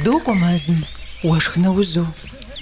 Докӏуэ мэзым, уэшх нэужьу.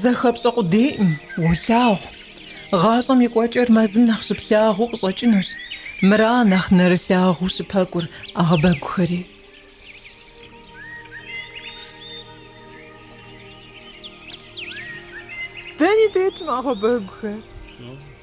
Зэхэпщӏэ къудейкъым, уолъагъу. Гъащӏэм и кӏуэкӏэр мэзым нэхъ щыплъагъуу къыщӏэкӏынущ, мыра нэхъ нэрылъагъуу щыпэкӏур ӏэгъэбэгухэри. Дэни дэтщ мы ӏэгъэбэгухэр.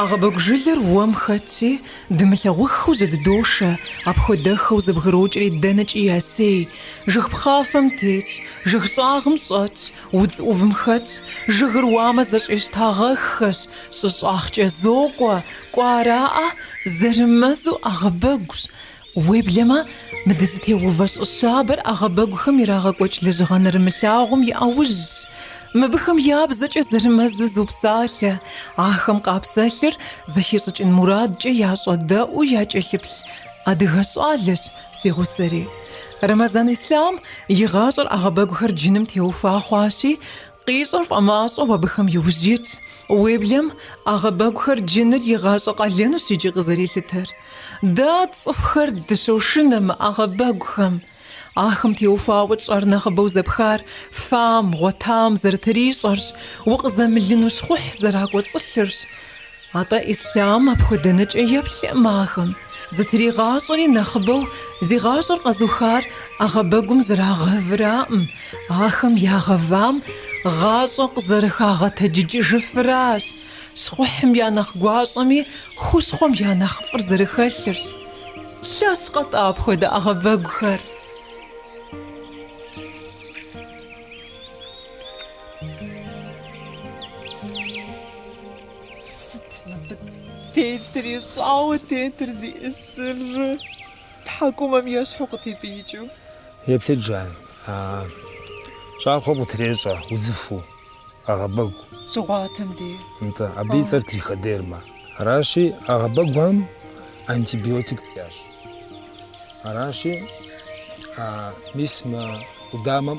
Агъэбэгу жылэр уэм хэтти, дымылъагъуххэу зыддошэ, апхуэдэхэу зэбгрокӏри дэнэкӏи ясей, жыг пхъафэм тетщ, жыг щӏагъым щӏэтщ, удз ӏувым хэтщ, жыгыр уамэ зэщӏищтагъэххэщ, щӏыщӏагъкӏэ зокӏуэ, кӏуараӏэ, зэрымэзу агъэбэгущ. Уеблэмэ, мы дызытеувэ щӏы щабэр ӏэгъэбэгухэм ирагъэкӏуэкӏ лэжьыгъэ нэрымылъагъум и ӏэужьщ. Мыбыхэм я бзэкӏэ зэрымэзу зопсалъэ, ахэм къапсэлъыр зэхищӏыкӏын мурадкӏэ ящӏэдэӏуу якӏэлъыплъ адыгэ щӏалэщ си гъусэри. Рэмэзан Ислъам и гъащӏэр ӏэгъэбэгухэр джыным теухуа хъуащи, Къищӏэр фӏэмащӏэу абыхэм иужь итщ. Уеблэм ӏэгъэбэгухэр джыныр и гъащӏэ къалэнущ икӏи къызэрилъытэр. Дэ цӏыхухэр дыщошынэ мы ӏэгъэбэгухэм. Ахэм теухуауэ тщӏэр нэхъыбэу зэпхар фам, гъуэтам зэрытрищӏэрщ, укъызэмылыну щхъухь зэракӏуэцӏылъырщ. Атӏэ Ислъам апхуэдэ нэкӏэ еплъыӏым ахэм, зытригъащӏэри нэхъыбэу зи гъащӏэр къэзухар ӏэгъэбэгум зэрагъэвыраӏым, ахэм ягъэвам гъащӏэ къызэрыхагъэтэджыкӏыжыфыращ, щхъухьым я нэхъ гуащӏэми хущхъуэм я нэхъыфӏыр зэрыхэлъырщ. Лъэщкъэ-тӏэ апхуэдэ ӏэгъэбэгухэр? Сыт мыбы тетри, щӏауэ тетыр зиӏысыр тхьэкӏумэм ещхьу къытепӏиикӏыу? Еплъыт, жан. Щӏакхъуэм къытрещӏэ удзыфэу, ӏэгъэбэгу. Щыгъуатэм дей. Нтӏэ, абы и цӏэр триходермэ. Аращи, ӏэгъэбэгухэм антибиотик ящӏ. Аращи, мис мы къудамэм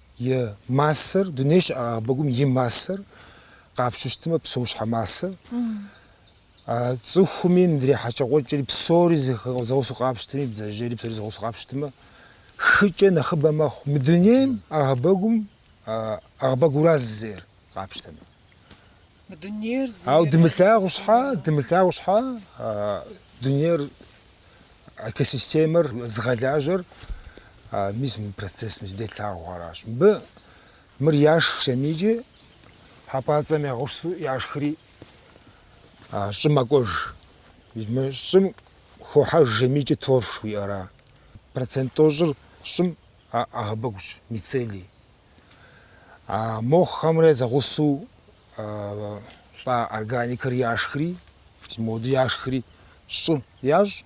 И массэр, дуней щыӏэ ӏэгъэбэгум и массэр къапщыщтмэ, псэущхьэ массэр, цӏыхуми мыдрей хьэкӏэкхъуэкӏэри псори зэгъусу къапщтми, бдзэжьейри псори зэгъусу къапщтмэ, хыкӏэ нэхъыбэ мэхъу. Мы дунейм ӏэгъэбэгум, ӏэгъэбэгуращ зейр къапщтэмэ. Ауэ дымылъагъу щхьа, дымылъагъу щхьа, дунейр, экосистемэр зыгъэлажьэр, мис мы процесс мис делъагъу аращ. Мыбы мыр яшх жэмийкӏи, хьэпӏацӏэм ягъусу яшхри щӏым мэкӏуэж. Мы щӏым хохьэж жэмийкӏи торф жыхуиӏэра. Процент тӏощӏыр щӏым ӏэгъэбэгущ, мицелий. А моххэмрэ зэгъусэу лӏа органикэр яшхри, моду яшхри щӏы ящӏ,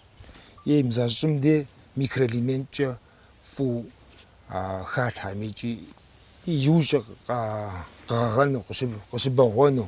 е имза щӏым де микроэлементкӏэ фӏу халъхьэм икӏи иужькӏэ къэгъэгъэну, къыщыбэгъуэну.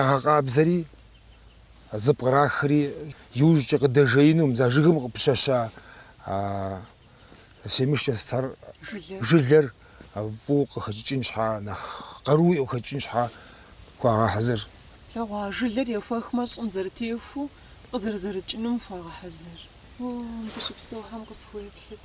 ягъэкъабзэри, зыпкърахри, иужькӏэ къыдэжеинум, за жыгым къыпыщэща семечкэ стар жылэр фӏыуэ къыхэкӏыкӏын щхьа, нэхъ къарууи къыхэкӏын щхьа хуагъэхьэзыр. Лъэгъуа жылэр ехуэхмэ, щӏым зэрытехуу къызэрызэрыкӏынум хуагъэхьэзыр. О, мыбы щыпсэухэм къысхуеплъыт.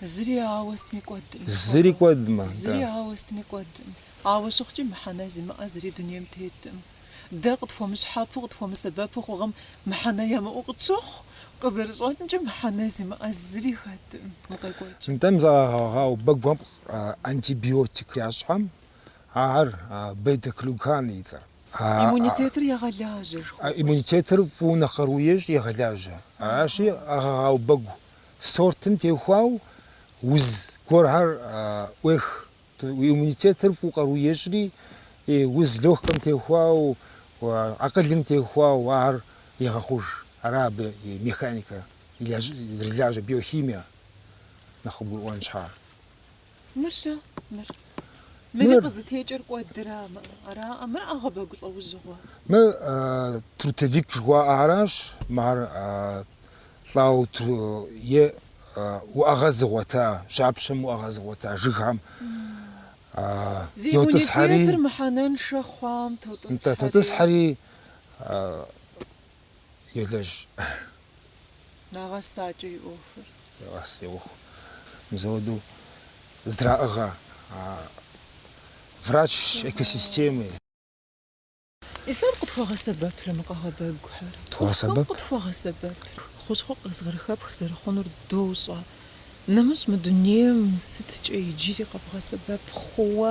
Зыри ауэ стми кӏуэдым. Зыри кӏуэдмэ. Зыри ауэ стми кӏуэдым. Ауэ щыхъукӏи, мыхьэнэ зимыӏэ зыри дунейм тетым. Дэ къытхуэмыщхьэпу, къытхуэмысэбэпу хъухэм мыхьэнэ ямыӏэу къытщохъу, къызэрыщӏэкӏымкӏэ мыхьэнэ зимыӏэ зыри хэтым, укъекӏуэкӏ. Нтӏэ мы ӏэгъэбэгухэм антибиотик ящӏхэм, ахэр бета-глюкан и цӏэр. Иммунитетыр егъэлажьэ, жыхуиӏэщ. Иммунитетыр фӏыуэ нэхъ къару ещӏ, егъэлажьэ. Аращи, ӏэгъэбэгу сортым теухуау уз гуэрхэр ӏуех. Иммунитетыр фӏыуэ къару ещӏри, уз легкэм теухуау, акъылым теухуау ар егъэхъуж. Ара абы и механикэр, зэрылажьэ биохимие нэхъ къыбгурыӏуэн щхьа. Мыр щэ, мыр. Мыри къызытекӏэр кӏуэдыра, ара, мыр ӏэгъэбэгу лӏэужьыгъуэ. Мыр трутовик жыхуаӏаращ, ар лӏау е уӏэгъэ зыгъуэта, жьапщэм уӏэгъэ зыгъуэта жыгхэм йотӏысхьэри. Зи иммунитетыр мыхьэнэншэ хъуам тотӏысхьэри. Тотӏысхьэри Елэжь. Нэгъэсакӏэ и ӏуэхур. Нэгъэс и ӏуэху. Мызэуэду здраӏыгъэ а врач экосистемы. Ислъам къытхуэгъэсэбэпрэ мы ӏэгъэбэгухэр? Цӏыхухэм къытхуэгъэсэбэп. Хущхъуэ къызэрыхэпх зэрыхъунур дощӏэ. Нэмыщӏ мы дунейм сыткӏэ иджыри къэбгъэсэбэп хъууэ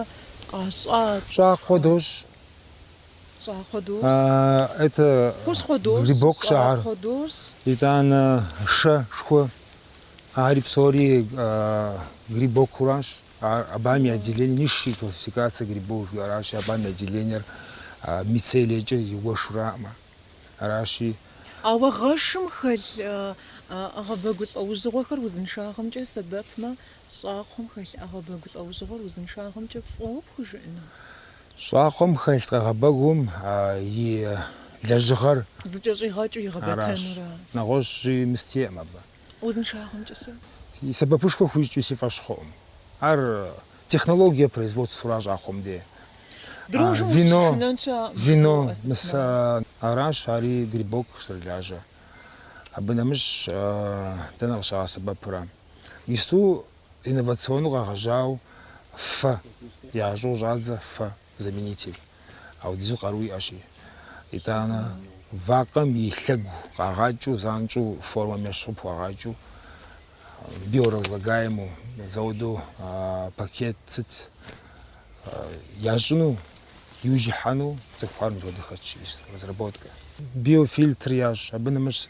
къащӏа цӏыхухэм. Щӏакхъуэ дощӏ. Это грибок шагъыр. Итӏанэ шэ шху. Ари псори грибокуращ. Абам и отделение низшие классификация грибов жиӏэращ. Абам и отделениер мицелиекӏэ иуэшураӏмэ. Аращи. Ауэ гъэшым хэлъ ӏэгъэбэгу лӏэужьыгъуэхэр узыншагъэмкӏэ сэбэпмэ, щӏакхъуэм хэлъ ӏэгъэбэгу лӏэужьыгъуэр узыншагъэмкӏэ фӏыуэ пхужыӏэну? Щӏакхъуэм хэлъ ӏэгъэбэгум и лэжьыгъэр. Зыкӏэщӏигъэкӏыу игъэбэтэнур ара? Нэгъуэщӏ жьы мыстеӏым абы. Узыншагъэмкӏэ-щэ? И сэбэпышхуэ хуищӏкӏи си фӏэщ хъуӏым. Ар технологие производствэра щӏакхъуэм де? Дрожжэм ущыщышынэн щыӏэкъым. Вино, мыса, аращ, ари грибок зэрылажьэ. Абы нэмыщӏ дэнэ къыщагъэсэбэпрэ? Ису инновационэу къэгъэжьау фэ ящӏу щӏадзэ фэ заменитель аудизу къару иӏэщи. Итӏанэ вакъэм и лъэгу къагъакӏыу занщӏу формэм ещхьу къыпхуагъакӏыу биоразлагаемэу зауду пакет сыт ящӏыну иужь ихьэну цӏыхухэр мыпхуэдэ хэтщ разработка. Биофильтр ящӏ, абы нэмыщӏ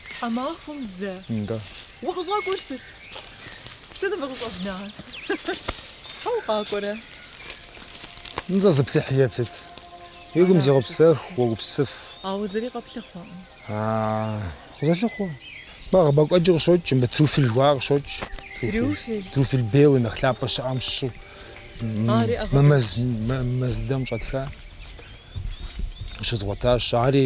Тхьэмахуэм зэ. Да. Укъыщӏэкӏуэр сыт? Сыт фыкъыщӏэбнар? Фэ укъакӏуэрэ? Нтӏэ, зыплъыхьи еплъыт. Уи гум зегъэпсэху, уогупсыф. Ауэ зыри къэплъыхъуэкъым. Къызолъыхъуэ. Ӏэгъэбэгу куэди къыщокӏ, мыбы трюфель жыхуаӏэр къыщокӏ. Трюфель? Трюфель белый, нэхъ лъапӏэ щыӏэм щыщу. Ари ӏэгъэ. Мэз, мэзыдэм щӏэтха. Щызгъуэтащ. Ари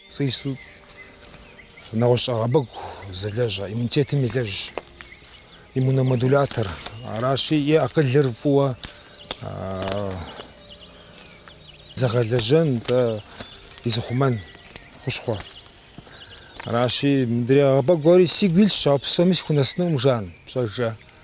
Сэ ису нэгъуэщӏ ӏэгъэбэгу зэлэжьа иммунитетым елэжь, иммуномодулятор. Аращи, и акъылыр фӏыуэ зыгъэлэжьэн, дэ изыхъумэн хущхъуэ. Аращи, мыдрей ӏэгъэбэгухэри сигу илъщ, ауэ псоми сыхунэсынукъым, жан, пщӏэжэ.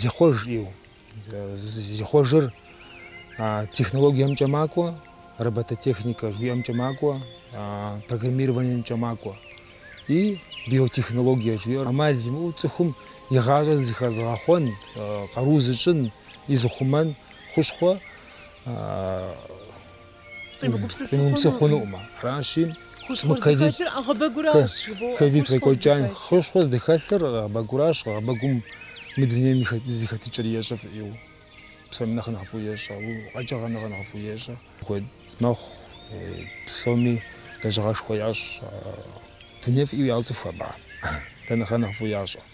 Зихъуэж ӏейуэ. Зихъуэжыр технологиемкӏэ макӏуэ, робототехникэ жиӏэмкӏэ макӏуэ, программированиемкӏэ макӏуэ. И биотехнологие жиӏэр амал зимыӏэу цӏыхум и гъащӏэр зыхэзыгъэхъуэн, къару зыщӏын, и зыхъумэн хущхъуэ къимыгупсысыну хъунукъым. Аращи, мы ковид ковид къекӏуэкӏам хущхъуэ здыхэлъыр агъэбэгуращ, агъэбэгум мы дунейм зэхэтыкӏэр ещӏэ фӏыӏеу. Псоми нэхъ нэхъыфӏу ещӏэ, къэкӏыгъэ нэхъ нэхъыфӏу ещӏэ. Куэд мэхъу, псоми лэжьыгъэшхуэ ящӏ, дуней фӏыӏеу яуэцӏыху абы, дэ нэхъ нэхъыфӏу ящӏэ.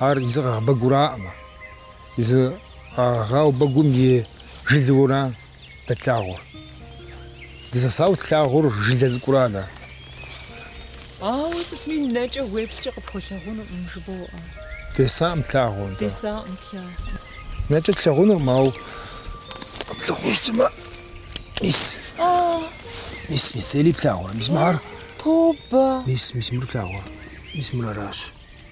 Ар езы агъэбэгураӏымэ, езы агъэбэгум и жылэура дэ тлъагъур. Дызэсауэ тлъагъур жылэ цӏыкӏура дэ. Ауэ сытми нэкӏэ уеплъкӏэ къыпхуэлъагъунукъым, жыбоӏэ. Десакъым тлъагъур, нтӏэ. Десакъым тлъагъур. Нэкӏэ тлъагъунукъым, ауэ къэплъыхъуу щытмэ, мис. Мис, мицелий плъагъур. Мис мыхьэр. Тобэ. Мис, мис мыр плъагъур. Мис мыр аращ.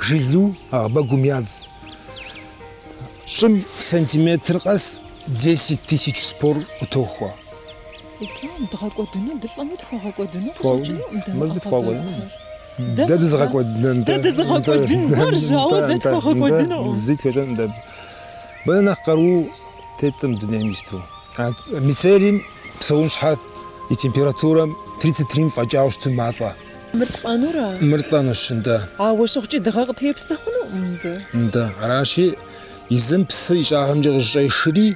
Жылу агъэбэгум ядз. Щӏым сантиметр къэс 10 тысяч спор къытохуэ. Ислам дгъэкӏуэдыну дылӏэмэ тхуэгъэкӏуэдыну къыщӏэкӏыну мыбы тхуэгъэкӏуэдынукъым. Дэ дызыгъэкӏуэдын. Дэ дызыгъэкӏуэдынхэр жауэ дэ тхуэгъэкӏуэдынукъым. Зи тхуещӏэнукъым дэ. Абы нэхъ нэхъ къару теткъым дунейм исту. Мицелийм псэун щхьэ и температурэм 33 фӏэкӏауэ щыту малӏэ. Мыр лӏэнура? Мыр лӏэнущ, нтӏэ. Ауэ щыхъукӏи, дыгъэ къытепсэ хъунукъым, нтӏэ. Нтӏэ. Аращи, езым псы и щӏагъымкӏэ къыщӏешри,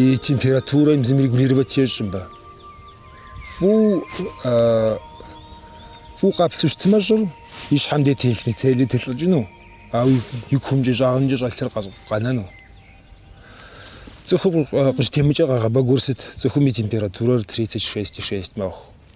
и температурэм езым регулировать ещӏ, мыбы. Фӏу, фӏу къаплъу щытмэ щӏыр, и щхьэм де телъ мицелий телӏыкӏыну, ауэ и кумкӏэ, щӏагъымкӏэ щӏэлъыр къэнэну. Цӏыхум къыщӏытемыкӏэр агъэбэгур сыт? Цӏыхум и температурэр тридцать шесть и шесть мэхъу.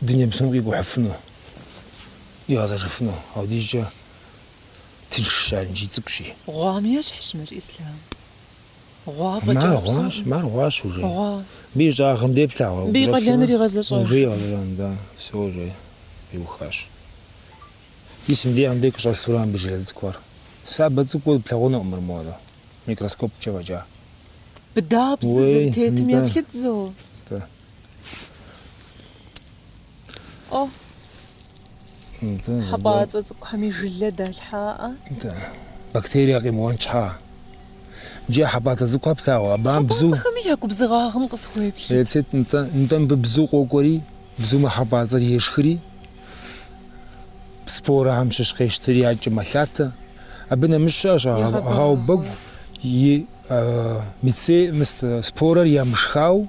дуней псом къикӏухьыфыну, къигъэзэжыфыну, апхуэдизкӏэ тыншщ ар икӏи цӏыкӏущи. Гъуам ещхьщ мыр Ислам. Гъуа фӏэкӏа Мар псом? гъуащ, мар гъуащ уже. Гъуа. Мыбы и щӏагъым де плъагъуэ? Мыбы и къалэныр игъэзэщӏа? Уже игъэзэщӏам, да, все уже иухащ. Ди сым дей Анбек къыщӏэлъурэ мыбы жылэ цӏыкӏуэр. Сабэ цӏыкӏуу плъагъунукъым мыр моуэ, микроскопкӏэ фӏэкӏа. Мыдэ псы, уей, зэрытетым нтӏэ. еплъыт зэ. Нтӏэ. О, хьэпӏацӏэ цӏыкӏухэми жылэ далъхьаӏэ. Да, бактерие къимыуэн щхьа. Иджы хьэпӏацӏэ цӏыкӏухэр плъагъуэ, абыхэм бзу... Хьэпӏацӏэхэми я губзыгъагъым къысхуеплъыт. Еплъыт, нтӏэ, нтӏэ мыбы бзу къокӏуэри, бзумэ хьэпӏацӏэр ешхри, спорэхэм щыщ къещтыри адэкӏэ мэлъатэ. Абы нэмыщӏ щыӏэщ агъэбэгу и мице, спорэр ямышхау,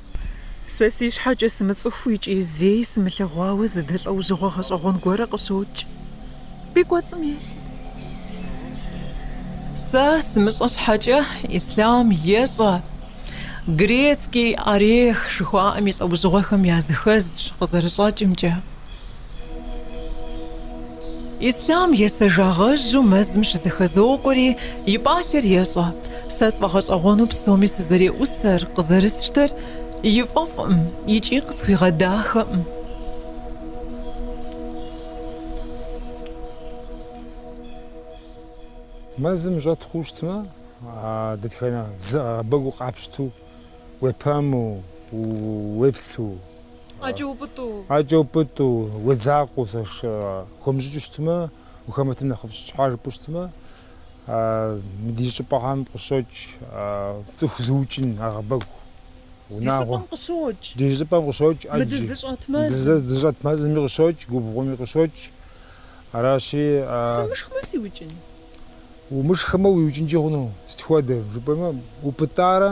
Сэ си щхьэкӏэ сымыцӏыхуу икӏи зэи сымылъэгъуауэ зы дэ лӏэужьыгъуэ гъэщӏэгъуэн гуэрэ къыщокӏ. И кӏуэцӏым еплъыт. Сэ сымыщӏэ щхьэкӏэ Ислъам ещӏэ. Грецкий орех жыхуаӏэм и лӏэужьыгъуэхэм языхэзщ, къызэрыщӏэкӏымкӏэ. Ислъам есэжагъэжьу мэзым щызэхэзокӏуэри, и пӏалъэр ещӏэ, Сэ сфӏэгъэщӏэгъуэну псоми сызэреӏусэр, къызэрысщтэр и фӏэфӏкъым икӏи къысхуигъэдахэкъым. Мэзым щӏэт хъуу щытмэ, дэтхэнэ зы ӏэгъэбэгу къапщту, уепэму, уеплъу, ӏэкӏэ упӏытӏу, уедзакъэу зэхыумыщӏыкӏыу щытмэ, ухэмытым нэхъыфӏщ, щхьэ жыпӏэу щытмэ, ди щӏыпӏэхэм къыщокӏ цӏыху зыукӏын ӏэгъэбэгу, унагъуэ. Ди щӏыпӏэм къыщокӏ. Ди щӏыпӏэм къыщокӏ ӏэджи. Мы дызыщӏэт мэзым. Дызыщӏэт мэзыми къыщокӏ, губгъуэми къыщокӏ. Аращи. Сымышхмэ сиукӏын? Умышхмэ уиукӏынкӏи хъуну, сыт хуэдэ жыпӏэмэ, упӏытӏарэ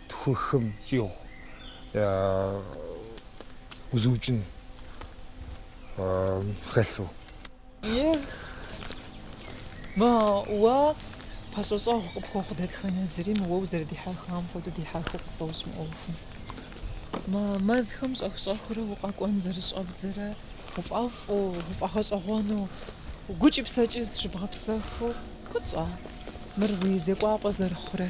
тху-хым щӏигъу узыукӏын хэлъу. Мы уэ пэщӏэщӏэгъу къыпхуэхъу дэтхэнэ зыри мы уэ узэрыдихьэхам хуэдэу дихьэхыу къысфӏощӏ мы ӏуэхум. Мы мэзхэм щӏэх-щӏэхыурэ укъэкӏуэн зэрыщӏэбдзэрэ пфӏэфӏу, пфӏэгъэщӏэгъуэну, гукӏи псэкӏи зыщыбгъэпсэхыу куэд щӏа мыр уи зекӏуапӏэ зэрыхъурэ?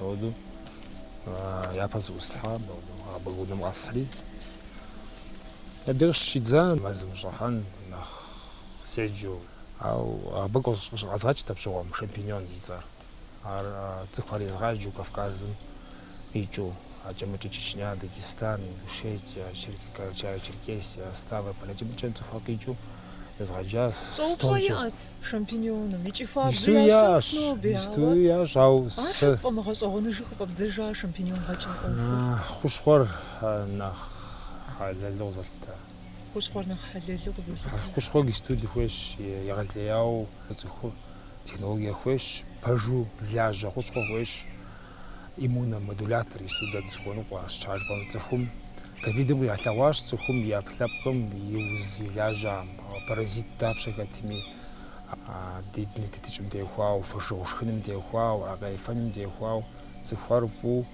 Ауэдэу япэ зыӏустхьам, абы унэм къэсхьри, абдеж щидза мэзым щӏыхьэн нэхъ седжэу. Ау абы къыщызгъэкӏт абщыгъуэм шампиньон зи цӏэр. Ар цӏыхухэр езгъаджэу Кавказым къикӏыу, акӏэмыкӏэ Чечня, Дагестан, Ингушетия, Черкесия, Ставрополь, акӏэмыкӏэм цӏыхухэр къикӏыу езгъэджащ стомкӏэ. Исту яӏэщ, исту яӏэщ, ау сэ. Хущхъуэр нэхъ хьэлэлу къызолъытэ. Хущхъуэр нэхъ хьэлэлу къызолъытэ. Хущхъуэр исту дыхуейщ, егъэлеяуэ цӏыхур технологие хуейщ, пэжу лажьэ хущхъуэ хуейщ. иммуномодулятор исту дэ дызыхуэныкъуэр, сыт щхьэ жыпӏэм, цӏыхум. Ковидым къигъэлъэгъуащ цӏыхум и ӏэпкълъэпкъым и уз и лажьэм паразит дапщэ хэтми, ди дуней тетыкӏэм теухуауэ, фошыгъу шхыным теухуауэ, аркъэ ефэным теухуауэ, цӏыхухэр фӏыу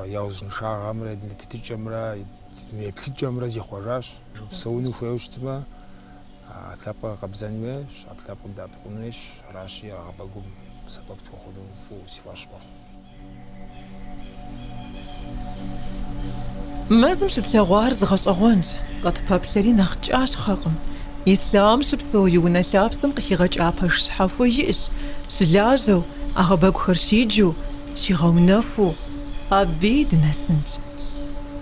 я узыншагъэмрэ дуней тетыкӏэмрэ дуней еплъыкӏэмрэ зихъуэжащ. Псэуну хуейуэ щытмэ, Ӏэпкълъэпкъыр къэбзэн хуейщ, Ӏэпкълъэпкъым дэӏэпыкъун хуейщ, аращи, ӏэгъэбэгум сэбэп тхуэхъуну фӏыуэ си фӏэщ мэхъу. Мэзым щытлъэгъуар зы гъэщӏэгъуэнщ, къытпэплъэри нэхъ кӏащхъэкъым. Ислъам щыпсэу и унэ лъапсэм къыхигъэкӏа пэш щхьэхуэ иӏщ, щылажьэу, ӏэгъэбэгухэр щиджу, щигъэунэхуу, абыи дынэсынщ.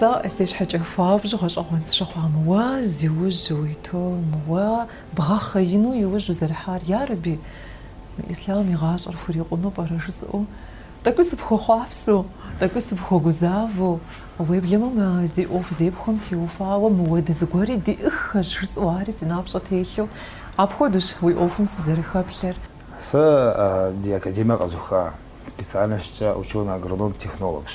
Сэ си щхьэкӏэ хуабжьу гъэщӏэгъуэн сщыхъуа мы уэ зи ужь уиту, мы уэ бгъэхъеину и ужь узэрихьар, ярэби, мы Ислъам и гъащӏэр хурикъуну пӏэрэ жысӏэу, тӏэкӏуи сыпхуэхъуапсэу, тӏэкӏуи сыпхуэгузавэу, уеблэмэ мы зи ӏуэху зепхуэм теухуауэ моуэ дэ зыгуэри диӏэххэщ жысӏэу ари си напщӏэ телъу, апхуэдэущ уи ӏуэхум сызэрыхэплъэр. Сэ ди академиер къэзуха специальностькӏэ ученый-агроном-технологщ.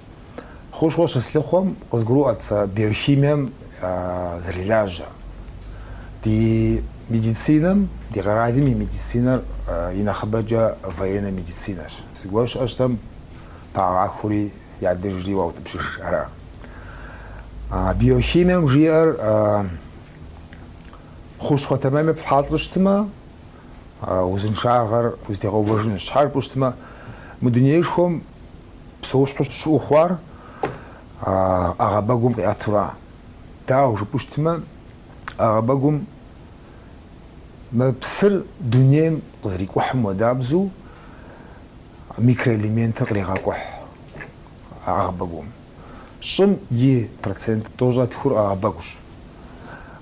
Хущхъуэ щыслъыхъуэм, къызгурыӏуэт сэ биохимием зэрылажьэр. Ди медицинэм, ди къэралым и медицинэр и нэхъыбэкӏэ военнэ медицинэщ. Зыгуэр щыӏэу щытмэ, пагъэхури ядыжри уаутӏыпщыж ара. Биохимием жиӏэр хущхъуэ тэмэмыр ефхьэлӏэу щытмэ, узыншагъэр узытегъэувэжынущ. Щхьэ жыпӏэу щытмэ, мы дунеишхуэм Псэущхьэу щыӏэу хъуар ӏэгъэбэгум къиӏэтура. Дауэ жыпӏэу щытмэ, ӏэгъэбэгум мы псыр дунейм къызэрикӏухьым хуэдабзэу микроэлементыр кърегъэкӏухь ӏэгъэбэгум. Щӏым и процент тӏощӏрэ тхур ӏэгъэбэгущ.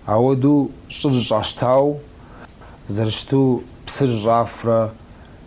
Ауэдэу щӏыр зыщӏащтауэ зэрыщыту псыр зыщӏафрэ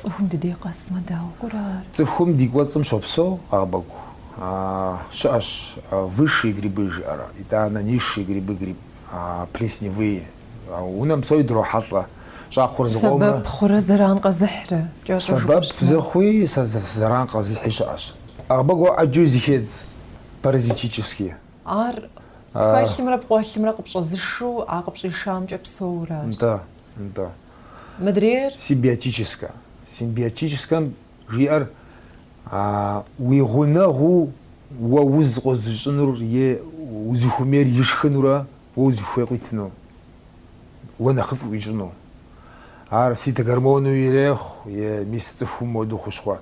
Цӏыхум ди дей къэсмэ, дауэ хъурэ ар? Цӏыхум ди кӏуэцӏым щопсэу ӏэгъэбэгу. Щыӏэщ высшие грибы жиӏэрэ, итӏанэ низшие грибы, гриб плесневые. Унэм псори дрохьэлӏэ. Щӏакхъуэр зыгъуомэ. Сэбэп хъурэ зэран къэзыхьрэ? Кӏэщӏу жыпӏэ щытмэ. Сэбэп зыхъуи, зэран къэзыхьи щыӏэщ. Ӏэгъэбэгу ӏэджэу зыхедз паразитически. Ар пхэлъымрэ пкъуэлъымрэ къыпщӏэзышэу а къыпщӏишамкӏэ псэуращ. Нтӏэ. нтӏэ. Мыдрейр? Симбиотическэ. Симбиотическэм жиӏэр уи гъунэгъуу уэ уз къозыщӏынур е узыхуэмейр ишхынурэ уэ узыхуей къуитыну, уэ нэхъыфӏ уищӏыну. Ар фитогормону ирехъу е мис цӏыхум моду хущхъуэ,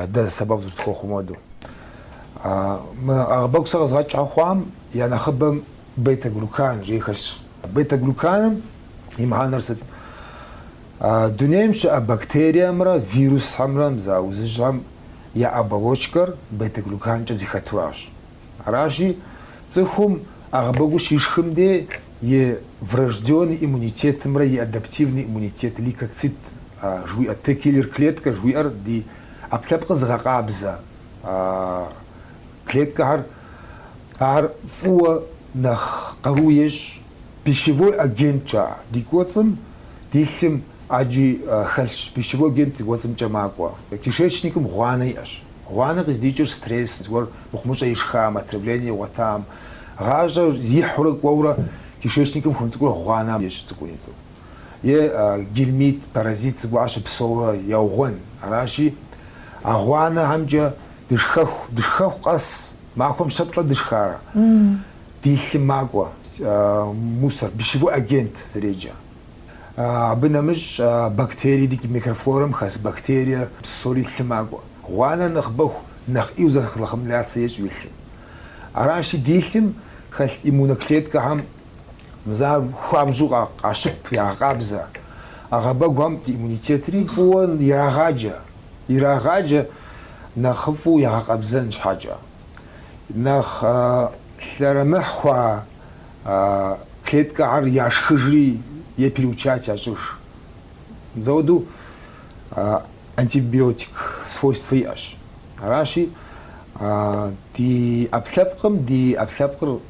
дэ сэбэп зэрытхуэхъу моду. Мы ӏэгъэбэгу сэ къэзгъэкӏ хъуам я нэхъыбэм бета-глюкан жиӏэу хэлъщ. Бета-глюканым и мыхьэнэр сыт? Дунейм щыӏэ бактериемрэ вирусхэмрэ мыз а узыжьхэм я оболочкэр бета-глюканкӏэ зыхэтуращ. Аращи, цӏыхум ӏэгъэбэгур щишхым дей и врожденный иммунитетымрэ и адаптивный иммунитет, лейкоцит жыхуиӏэ, Т-киллер клеткэ жыхуиӏэр ди ӏэпкълъэпкъыр зыгъэкъабзэ клеткэхэр ар фӏыуэ нэхъ къару ещӏ пищевой агенткӏэ. Ди кӏуэцӏым ди лъым ӏэджи хэлъщ пищевой агент ди кӏуэцӏымкӏэ макӏуэ. Кишечникым гъуанэ иӏэщ. Гъуанэ къыздикӏыр стресс зыгуэр мыхъумыщӏэ ишхам, отравление игъуэтам. Гъащӏэр ихьурэ кӏуэурэ кишечникым хуэм цӏыкӏурэ гъуанэ ещӏ цӏыкӏунитӏу. е гельминт, паразит зыгуэр щыпсэурэ яугъуэн. Аращи, а гъуанэхэмкӏэ дышхэху, дышхэху къэс махуэм щэ-плӏэ дышхарэ, ди лъым макӏуэ, мусор, пищевой агент зэреджэ. Абы нэмыщӏ бактерий ди микрофлорэм хэс бактерие псори лъым макӏуэ. Гъуанэр нэхъыбэху, нэхъ ӏеу захламляться ещӏ уи лъым. Аращи, ди лъым хэлъ иммуноклеткэхэм Мыз ар хуабжьу къащып, ягъэкъабзэ. ӏэгъэбэгухэм иммунитетри фӏыуэ ирагъаджэ. Ирагъаджэ нэхъыфӏу ягъэкъабзэн щхьэкӏэ. Нэхъ лъэрымыхь хъуа клеткэхэр яшхыжри е переучать ящӏыж. Мыз ауэду антибиотик свойствэ иӏэщ. Аращи, ди ӏэпкълъэпкъым ди ӏэпкълъэпкъыр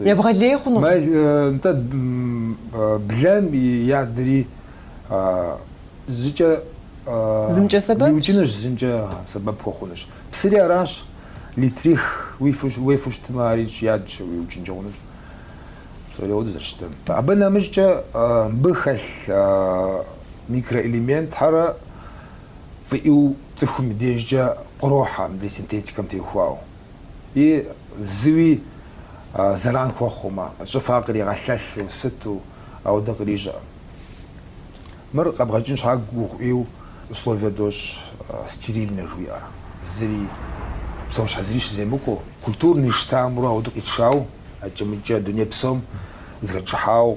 Ебгъэлей хъуну? Мэ, нтӏэ, блэм и ядри зыкӏэ Зымкӏэ сэбэпщ? Иукӏынущ, зымкӏэ сэбэп хуэхъунущ. Псыри аращ, литрих уефу щытмэ, арикӏ ядщ, уиукӏынкӏэ хъунущ. Псори ауэду зэрыщытам. Абы нэмыщӏкӏэ мыбы хэлъ микроэлементхэр фӏыӏуэу цӏыхум и дежкӏэ кърохьэ мыдрей синтетикэм теухуауэ. и зыуи зэран хуэхъумэ, щӏыфа къригъэлъэлъу сыту ауэдэ кърищӏэкъым. Мыр къэбгъэкӏын щхьа гугъу ӏейуэ условие дощӏ стерильнэ жыуиӏэр, зыри, псэущхьэ зыри щыземыкӏуэу. Культурный штаммру ауэдэ къитшауэ, акӏэ-мыкӏэ дуней псом зыхэтшыхьауэ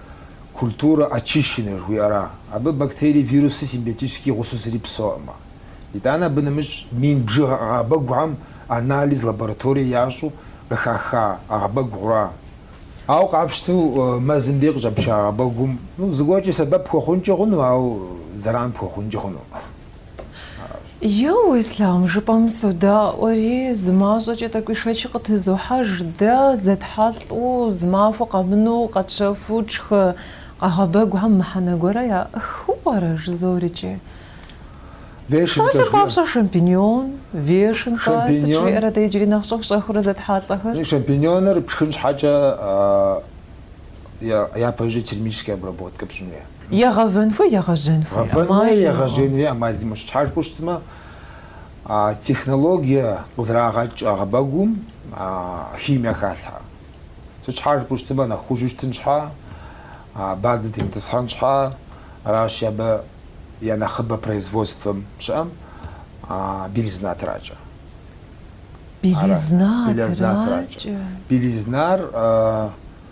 культурэ очищенная жыхуиӏэра? Абы бактерии, вируси симбиотически гъусэу зыри псэуӏымэ. Итӏанэ абы нэмыщӏ мин бжыгъэ ӏэгъэбэгухэм анализ лабораторие ящӏу къыхаха ӏэгъэбэгу гъура? Ауэ къапщту мэзым дей къыщӏэпча ӏэгъэбэгум, ну, зыгуэркӏи сэбэп пхуэхъункӏи хъуну, ауэ зэран пхуэхъункӏи хъуну. Еу, Ислъам, жыпӏэм содаӏуэри, зы мащӏэкӏэ тӏэкӏуи шэч къытезохьэж, дэ зэтхьэлӏэу, зы махуэ къэмынэу къэтщэхуу тшхы ӏэгъэбэгухэм мыхьэнэ гуэрэ яӏэххэу пӏэрэ? жызоӏэри икӏи. Вешенкэ. Псалъэм папщӏэ, шампиньон, вешенкэ, сыт Шампиньон. щыӏэрэ дэ иджыри нэхъ щӏэх-щӏэхыурэ зэтхьэлӏэхэр? Ну, шампиньоныр пшхын щхьэкӏэ а, я- япэжьу термическая обработка пщӏын хуейщ. Е гъэвэн хуей, е гъэжьэн хуей. Гъэвэн хуей, е гъэжьэн хуей ӏэмал димыӏэу. Сыт щхьэ жыпӏэу щытмэ, а технологие къызэрагъэкӏ ӏэгъэбэгум химие халъхьэ. Сыт щхьэ жыпӏэу щытмэ, нэхъ хужьу щытын щхьэ, бадзэ темытӏысхьэн щхьэ, аращи, абы я нэхъыбэ производствэм щыӏэм белизна тракӏэ. Белизна тракӏэ. Белизна тракӏэ. Белизнар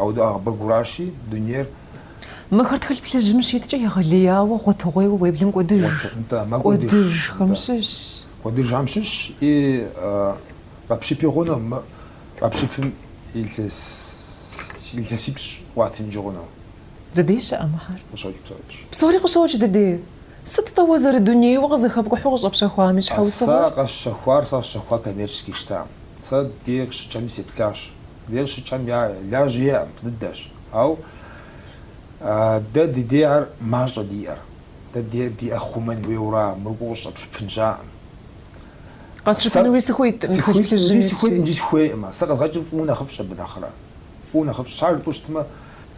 Ауэдэ ӏэгъэбэгуращи, дунейр. Мыхэр тхылъ плъыжьым щиткӏэ егъэлеяуэ гъуэтыгъуейуэ уеблэм кӏуэдыж. Нтӏэ, мэкӏуэдыж. Кӏуэдыжхэм щыщ. Кӏуэдыжхэм щыщ и къэпщыпи хъунукъым, къэпщыпмэ илъэсипщӏ къыуатынкӏи хъуну. Дыдей щыӏэ мыхэр? Къыщокӏ, къыщокӏ. Псори къыщокӏ дыдей. Сыт-тӏэ уэ зэрыдунейуэ къызэхэпкӏухьу къыщӏэпщэхуам и щхьэусыгъуэр? Сэ къэсщэхуар, сэ къэсщэхуар коммерческий штамм. Сэ дыдей къыщыкӏхэми сеплъащ. Дыдей къыщыкӏхэм я лажьэ яӏэкъым, дыдэщ. Ауэ дэ ди дей ар мащӏэ диӏэр. Дэ диӏэр хъумэн хуейуэ ара, мыр къыщӏэпщыпын щыӏэкъым. Къэсщыпынуи сыхуиткъым, тхылъ плъыжьым итщи. Сыхуиткъым икӏи сыхуейкъым. Сэ къэзгъэкӏыр фӏыуэ нэхъыфӏщ абы нэхърэ. Фӏыуэ нэхъыфӏщ. Щхьэ жыпӏэу щытмэ.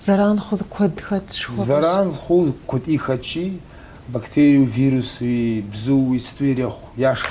Зэран хъу куэд хэтщ, хуэфӏщ. Зэран хъу куэди хэтщи, бактериеу, вирусуи, бзууи сыту ирехъу, яшх.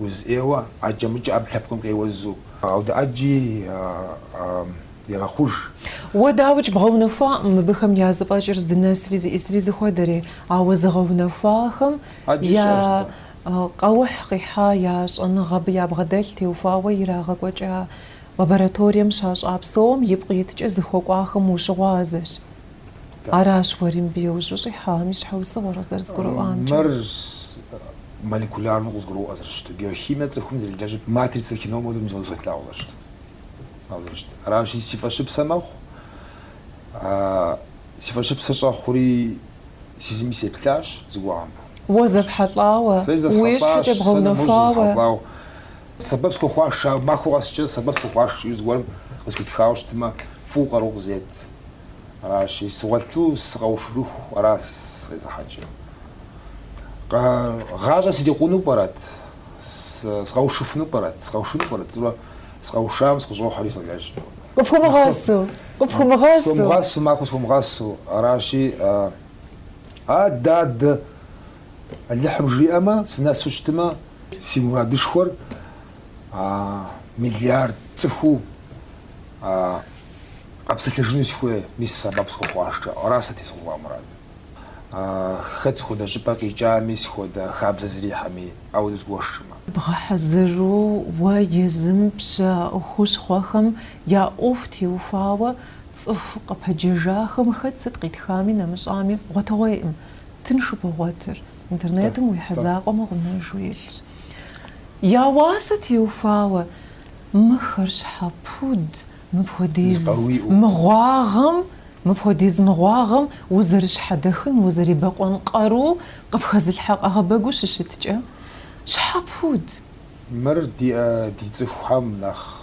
Уз ӏейуэ, ӏэджэ-мыджэ ӏэпкълъэпкъым къеузу. Ауэдэ ӏэджи егъэхъуж. Уэ, дауикӏ, бгъэунэхуакъым абыхэм я зэфӏэкӏыр здынэсри зищӏысри зыхуэдэри, ауэ зыгъэунэхуахэм Ӏэджэ я щыӏэщ атӏэ. къэухь къихьа я щӏэныгъэ абы ябгъэдэлъ теухуауэ ирагъэкӏуэкӏа лабораторием щащӏа псом ипкъ иткӏэ зыхуэкӏуахэм ущыгъуазэщ. Аращ уэри мыбы иужь ущӏихьам и щхьэусыгъуэр къызэрызгурыӏуамкӏэ. Мыр молекулярнэу къызгуроӏуэ зэрыщыту, биохимие цӏыхум зэрелэжьыр матрицэ кином хуэдэу мис къабзэу солъагъу зэрыщыту. Солъагъу зэрыщыту. Аращи, си фӏэщыпсэ мэхъу. Си фӏэщыпсэ щӏэхъури сэ езыми сеплъащ зыгуэрхэм. Уэ зэпхьэлӏауэ, уи щхьэкӏэ бгъэунэхуауэ. Сэбэп схуэхъуащ, махуэ къэскӏэ сэбэп схуэхъуащ жиӏэу зыгуэрым къысхуитхауэ щытмэ, фӏыуэ къару къызет. Аращи, сыгъуэлъу сыкъэушыху ара сыкъезыхьэкӏыр. Гъащӏэ срикъуну пӏэрэт? Сыкъэушыфыну пӏэрэт? Сыкъэушыну пӏэрэт жысӏэурэ сыкъэушам сыкъыщӏохьэри солэжь. Къыпхуэмыгъэсу, къыпхуэмыгъэсу. Схуэмыгъэсу, махуэ схуэмыгъэсу. Аращи, адэ, адэ, Алыхьым жиӏэмэ, сынэсу щытымэ, си мурадышхуэр миллиард цӏыхуу Къэпсэлъэжыну сыхуей, мис сэбэп схуэхъуа щхьэкӏэ. Ара сэ тезухуа мурадыр. Хэт сыхуэдэ щӏыпӏэ къикӏами, сыхуэдэ хабзэ зрихьэми, ауэдэу згуэшмэ? Бгъэхьэзыру уэ езым пщэ хущхъуэхэм я ӏуэху теухуауэ цӏыху къыпэджэжахэм хэт сыт къитхами нэмыщӏами гъуэтыгъуейӏым. Тыншу богъуэтыр. Интернетым уихьэ закъуэмэ гъунэжу илъщ. Я уасэ теухуауэ Мыхэр щхьэ пуд мыпхуэдиз мыгъуагъэм, мыпхуэдиз мыгъуагъэм узэрыщхьэдэхын, узэрибэкъуэн къару къыпхэзылъхьэ къэгъэбэгу щыщыткӏэ, щхьэ пуд? Мыр ди, э, ди цӏыхухэм нэхъ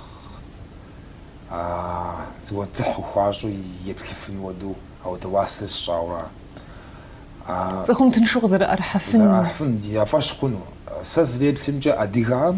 зыуэ дзыхь хуащӏу еплъыфын хуэду ауэдэ уасэ сщӏауэ ара. Цӏыхум тыншу къызэрыӏэрыхьэфын. Къызэрыӏэрыхьэфын, я фӏэщ хъуну. Сэ сызэреплъымкӏэ, адыгэхэм.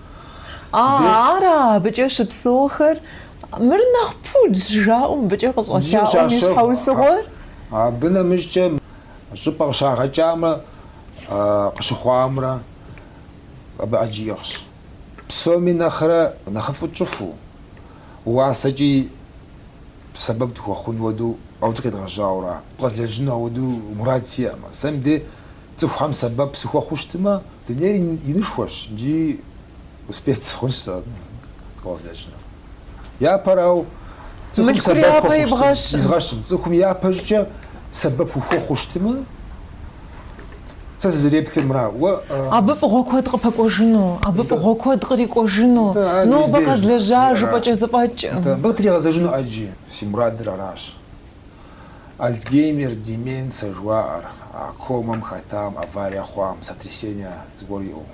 А, ара абыкӏэ щыпсэухэр? Мыр нэхъ пудщ жаӏэу мыбыкӏэ къыщӏэлъаӏуэм и щхьэусыгъуэр? Абы нэмыщӏкӏэ щӏыпӏэ къыщагъэкӏамрэ къыщыхъуамрэ абы ӏэджи иӏыгъщ. Псоми нэхърэ нэхъыфӏу тщӏыфу, уасэкӏи сэбэп дыхуэхъун хуэдэу ауэдэ къедгъэжьауэ ара. Къэзлэжьыну ауэдэу мурад сиӏэмэ, сэ мыбдей Цӏыхухэм сэбэп сыхуэхъуу щытмэ, дунейр инышхуэщ икӏи успех сыхъунщ сэ къэзлэжьыну. Япэрау, цӏыхум сэбэп изгъэщым, цӏыхум япэщӏыкӏэ сэбэп ухуэхъуу щытмэ, сэ сызыреплъыр мыра. Абы фӏыгъуэ куэд къыпэкӏуэжыну, абы фӏыгъуэ куэд кърикӏуэжыну, нобэ къэзлэжьа жыпӏэкӏэ зэфӏэкӏым, абы тригъэзэжыну ӏэджи си мурадыр аращ. Альцгеймер, деменцэ жыхуаӏэр, а комэм хэтам, аварие хъуам, сотрясение зыгуэр иӏэу.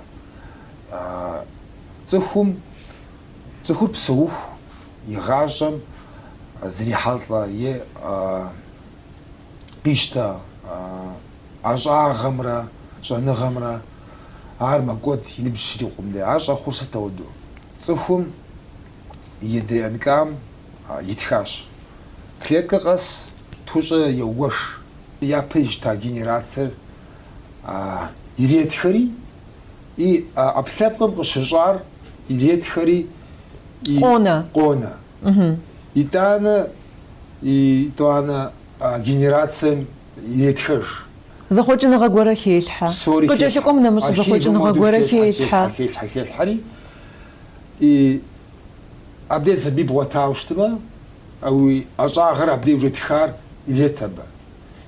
Цӏыхум, цӏыхур псэуху и гъащӏэм зрихьэлӏэ е къищтэ ӏэщӏагъэмрэ щӏэныгъэмрэ ар мэкӏуэд и ныбжь щрикъум дей. Ар щӏэхъур сыт ауэду? Цӏыхум и ДНК-м, итхащ. Клеткэ къэс тхущӏэ еуэш, япэ ищта генерациер иретхэри и ӏэпкълъэпкъым къыщыщӏар иретхэри и къонэ. Итӏанэ, итӏуанэ генерацием иретхэж. Зэхъуэкӏыныгъэ гуэрэ хелъхьэ. Псори хелъхьэ. Къыкӏэлъыкӏуэм нэмыщӏ зэхъуэкӏыныгъэ гуэрэ хелъхьэ. Хелъхьэ, хелъхьэ, хелъхьэри. и абдеж сабий бгъуэтауэ щытмэ, а уи ӏэщӏагъэр абдей уже тхар ирет абы.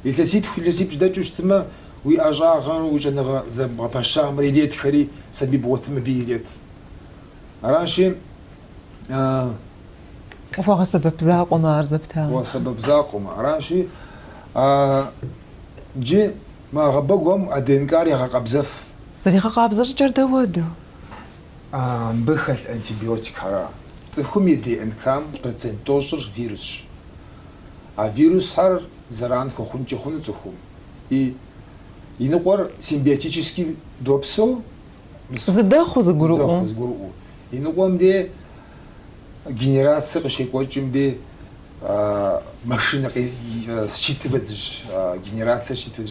Илъэситху илъэсипщӏ дэкӏыу щытмэ, уи ӏэщӏагъэр уи щӏэныгъэ зэбгъэпэщамрэ иретхэри сабий бгъуэтым абий ирет. Аращи, а. Къыхуэгъэсэбэп закъуэмэ ар зэптауэ. Къыхуэгъэсэбэп закъуэмэ. Аращи, а джы мы ӏэгъэбэгухэм а ДНК-р ягъэкъабзэф. Зэригъэкъабзэ щӏыкӏэр дауэду? Мыбы хэлъ антибиотикхэра цӏыхум и ДНК-м процент тӏощӏыр вирусщ. А вирусхэр зэран хуэхъункӏэ хъуну цӏыхум и иныкъуэр симбиотически допсэу, зыдэхъуу зыгурыӏуэу, иныкъуэм де генерацие къыщекӏуэкӏым ди машинэ считывать, генерацие считывать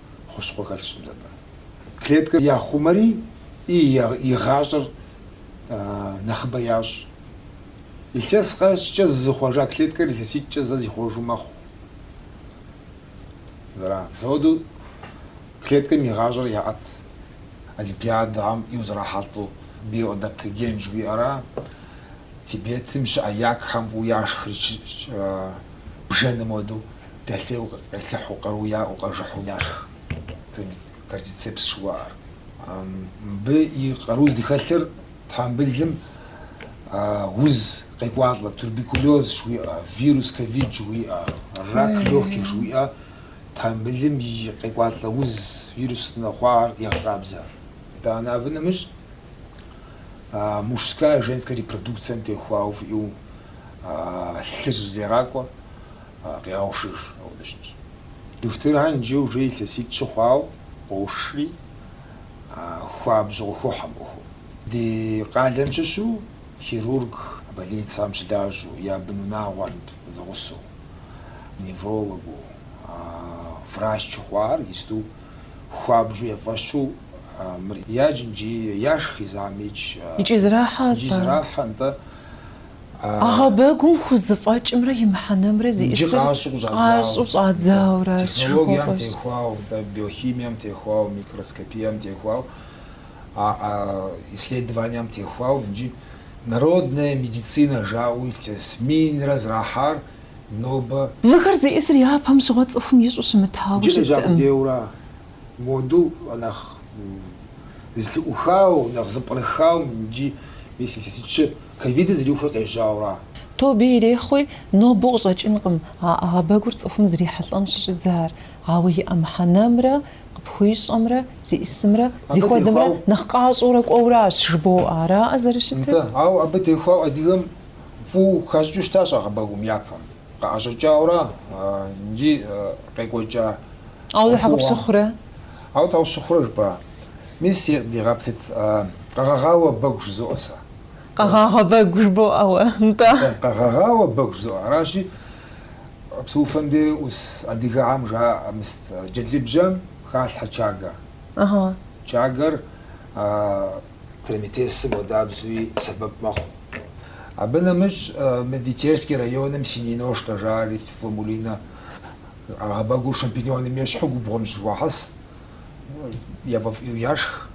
хущхъуэ хэлъщ мыбы. Клеткэр яхъумэри и игъащӏэр нэхъыбэ ящӏ. Илъэс къэскӏэ зызыхъуэжа клеткэр илъэситӏкӏэ зэ зихъуэжу мэхъу. Зэра, мызэуэду клеткэм игъащӏэр яӏэт Олимпиадэм иузэрахьэлӏэу биоадаптоген жыхуиӏэра, Тибетым щыӏэ якхэм фӏыуэ яшхри бжэным уэду, дэлъейу къелъыхьу, къару яӏэу, къажыхьу яшх. Кордицепс жыхуаӏэр. Мыбы и къару здыхэлъыр тхьэмбылым уз къекӏуалӏэ, туберкулез жыхуиӏэ, вирус ковид жыхуиӏэ, рак легких жыхуиӏэ тхьэмбылым къекӏуалӏэ уз вируснэ хъуар егъэкъабзэ. Итӏанэ абы нэмыщӏ мужская, женская репродукцием техуауэ фӏыуэ а лъыр зэрегъакӏуэ къегъэушыж, ауэ дыщыщ. Духутырхэм джы уже илъэситӏ щыхъуауэ къоушри, а хуабжьу къыхохьэ мы ӏуэхум. Ди къалэм щыщу хирург больницэм щылажьэу, я бынунагъуэм зэгъусэу, неврологыу, врач щыхъуар исту хуабжьу я фӏэщу мыр яджын икӏи яшх изам икӏ. Икӏи зэрахьэ, нтӏэ. Ӏэгъэбэгум хузэфӏэкӏымрэ и мыхьэнэмрэ зиӏысыр къащӏэу щӏадзауэращ. Технологием техуауэ, биохимием техуауэ, микроскопием техуауэ, исследованием техуауэ иджы народная медицинэ жаӏэу илъэс минрэ зэрахьар нобэ. Мыхэр зиӏысыр япэм щыгъуэ цӏыхум ищӏэу щымытауэ щыткъым. Иджы лэжьакӏуэ дейуэрэ моду нэхъ зэлъыӏухауэ, нэхъ зэпкърыхауэ иджы мис илъэситӏ щы Ковидыр зэриухрэ къежьауэра? Тобэ ирехъуи, нобэу къыщӏэкӏынкъым а ӏэгъэбэгур цӏыхум зрихьэлӏэн щыщӏидзар, ауэ иӏэ мыхьэнэмрэ къыпхуищӏэмрэ зиӏысымрэ зыхуэдэмрэ нэхъ къащӏэурэ кӏуэуращ жыбоӏэ, араӏэ зэрыщытыр? Нтӏэ, ауэ абы техуауэ адыгэм фӏыуэ хащӏыкӏыу щытащ ӏэгъэбэгум япэм, къыӏэщӏэкӏауэра икӏи къекӏуэкӏауэ хьэкъ пщыхъурэ? Ауэ хьэкъ сщыхъурэ жыпӏа? Мис е, дигъэптэт, къэгъэгъауэ бэгу жызоӏэ сэ. Къэгъагъэ бэгу жыбоӏэ уэ, нтӏэ. Къэгъэгъауэ бэгу жызоӏэ. Аращи, псы ӏуфэм дей ӏус адыгэхьэм жаӏэ мыст, джэдлыбжьэм халъхьэ чагэ. Чагэр траметесым хуэдабзэуи сэбэп мэхъу. Абы нэмыщӏ мы ди Терский районым синеножка жаӏэри, фламмулинэ ӏэгъэбэгур шампиньоным ещхьу губгъуэм щыхуахьэс, яфӏэфӏу яшх.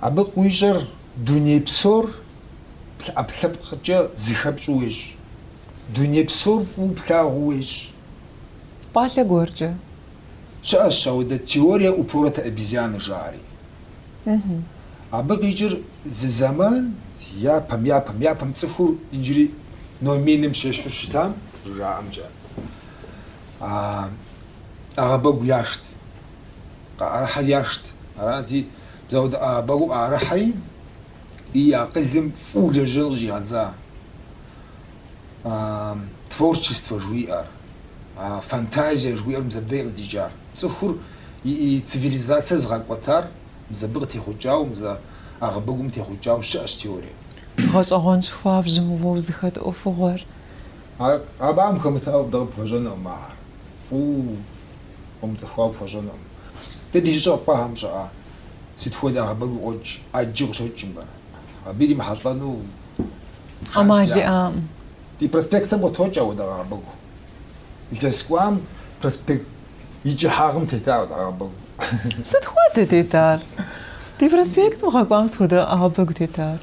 Абы къыуищӏэр дуней псор ӏэпкълъэпкъкӏэ зыхэпщӏу уещӏ. Дуней псор фӏыуэ плъагъуу уещӏ. Пӏалъэ гуэркӏэ. Щыӏэщ ауэдэ теория упоротой обезьяны жаӏэри. Абы къикӏыр зы зэман япэм, япэм, япэм цӏыхур иджыри номиным щещхьу щытам, зэрыжаӏэмкӏэ, ӏэгъэбэгу яшхт. къыӏэрыхьэр яшхт. Арати, зы ауэдэ ӏэгъэбэгу къыӏэрыхьэри, и акъылым фӏыу лэжьэн къыщӏигъэдза творчествэ жыхуиӏэр, а фантазие жыхуиӏэр мис абдей къыдикӏар, цӏыхур и цивилизацэр зыгъэкӏуэтар мис абы къытехъукӏауэ, мис а ӏэгъэбэгум техъукӏауэ щыӏэщ теорие. Гъэщӏэгъуэнщ хуабжьу мы уэ узыхэт ӏуэхугъуэр. Абыхэм хэмытауэ дэ къыпхуэщӏэнукъым ахэр. Фӏыуэ къыумыцӏыхуауэ пхуэщӏэнукъым. Дэ ди жьыщӏэр къыпӏэхэм щыӏэ сыт хуэдэ ӏэгъэбэгу къокӏ, ӏэджи къыщокӏ мыбы. Абы иримыхьэлӏэну ӏэмал иӏакъым. Ди проспектым къытокӏ апхуэдэ ӏэгъэбэгу. Илъэс кӏуам проспект и кӏыхьагъым тета апхуэдэ ӏэгъэбэгу. Сыт хуэдэ тетар? Ди проспектым гъэ кӏуам сыт хуэдэ ӏэгъэбэгу тетар?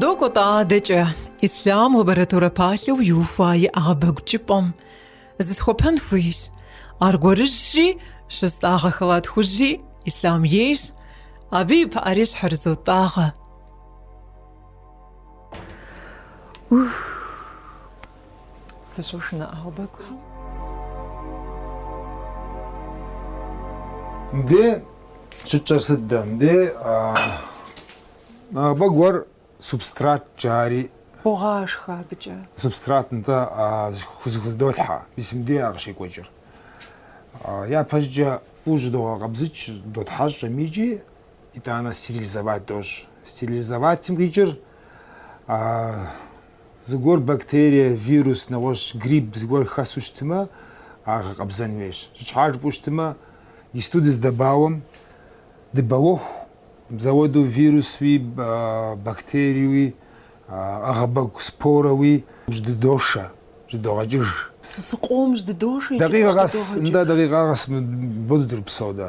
Докӏуэ-тӏэ адэкӏэ, Ислъам лабораторэ палъэу иухуа и ӏэгъэбэгу кӏыпӏэм зысхуэпэн хуейщ. Аргуэрыжьщи, щыстӏагъэ халат хужьри Ислъам ейщ, абы и пыӏэри щхьэрызотӏагъэ. Сыщошынэ ӏэгъэбэгухэм. Мыбдей щытщӏэр сыт дэ? Мыбдей ӏэгъэбэгуэр субстрат джари. Богъашхэ абыкӏэ. Субстрат нтӏэ хузыхудолъхьэ, мис мыбдей ар къыщекӏуэкӏыр. Япэщӏыкӏэ фӏыуэ щыдогъэкъэбзыкӏ, дотхьэщӏ икӏи итӏанэ стерилизовать дощӏ. Стерилизоватым къикӏыр Зыгуэр бактерие, вирус, нэгъуэщӏ грипп зыгуэр хэсу щытымэ, ар гъэкъэбзэн хуейщ. Сыт щхьа жыпӏэу щытымэ, исту дыздэбауэм, дыбауэху, мызэуэду вирусуи, бактериуи, ӏэгъэбэгу спорэуи жьэдыдошэ, жьэдыдогъэкӏыж. Зыкъом жьэдыдошэ икӏи къыжьэдыдогъэкӏыж. Дакъикъэ къэс, нтӏэ, дакъикъэ къэс мыпхуэдэу дыропсэу дэ.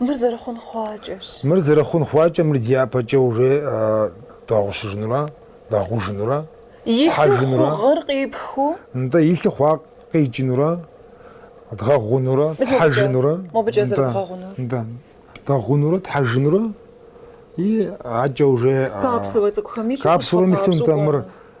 Мыр зэрыхъун хъуакӏэщ. Мыр зэрыхъун хъуакӏэ, мыр дяпэкӏэ уже дгъэгъущыжынура, дгъэгъужынура, хьэжынура. Илъу хъугъэр къипхыу. Нтӏэ, илъу хъуар къикӏынура, дгъэгъунура, тхьэжынура. Мобыкӏэ зэрыбгъэгъунур. Нтӏэ, дгъэгъунура, тхьэжынура и адэкӏэ уже. Капсулэ цӏыкӏухэми илъу къыпхуэпащӏэу къэӏуэ. Капсулэм илъу нтӏэ мыр